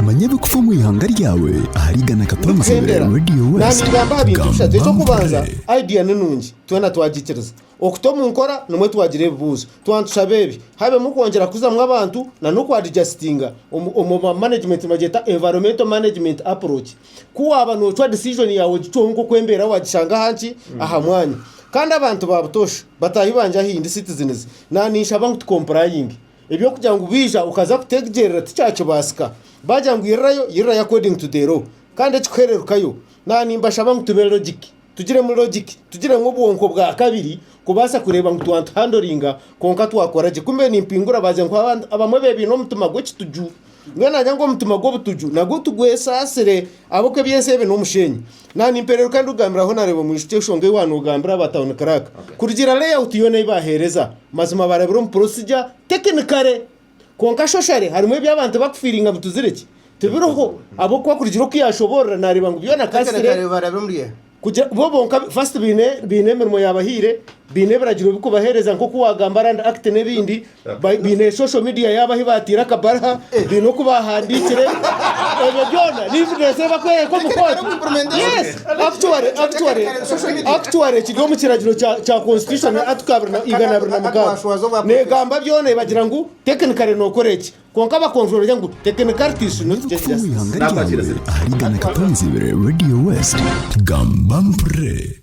manya ebikufa omu ihanga ryawe ahari igana katonzi Kuhendera. radio Nandi west tugamba aha bintu bishatu. Eky'okubanza, Gamba idea ni nungi. Twena twagikiriza. Okuta omu nkora nimwo twagira ebibuuzo. Tuba nitushaba ebi, habemu kwongyera kuzamu abantu na n'okwadigasitinga omu omu ba management nibagyeta environmental management approach. Ku waaba noocwa decision yaawe ogicweho nk'oku embeera waagishanga aha nki, aha mwanya. Kandi abantu ba butoosha, bataahi bangye ahaindi, citizens, nandi ninshaba ngu tukompulayinge. Eby'okugira ngu baija okaza kuteggyerera tikyakibaasika. Baagira ngu irirayo, irirayo according to the law. Kandi ekikuhere rukayo. Naaba nimbashaba ngu tube logic. Tugiremu logic. Tugiremu obwonko bwa kabiri kubaasa kureeba ngu twantuhandlinga kwonka twakora gye. Ku mbe nimpingura baagira ngu abamwe beebaine omutima gw'ekituju Mbwenu nagira ngu omutima gw'obutuju nagwo tugwesaasire ahabw'oku eby'ensi ebi n'omushenyi. Na nimpereruka ndikugambiraho nareeba omwishiki enshonga ei waanoogambira aba Town Clerk kurugiirira layout yoona ei baaheereza. Mazima baarabire omu procedure technically. Kwonka socially harimu ebi abantu bakufiiringa ngu tiziri ki? Tibiriho ahabw'okuba kurugiirira oku yaashoboorora naareeba ngu byona kasitire. Technically barabe omuri eha? Kugira bo bonka first baine baine emirimo yabahaire, baine ebiragiro bikubahereza nkoku wagamba Land Act nebindi, bai- baine social media yabo ahi batiire akabarha, baine oku bahandikire, ebyo byona ni evidence eyi bakwereka omu kooti. Yes, actually, actually, actually kiri omu kiragiro kya kya constitution article abiri na- igana abiri na mukaaga. Negamba byona ebagira ngu technically nokora eki. Kwonka abakonjorori ngu Tekiniko Artists no Tekiniko Justice. Omu ihanga ryawe ahari Ghana Katonzibire Radio West, gamba mpurire.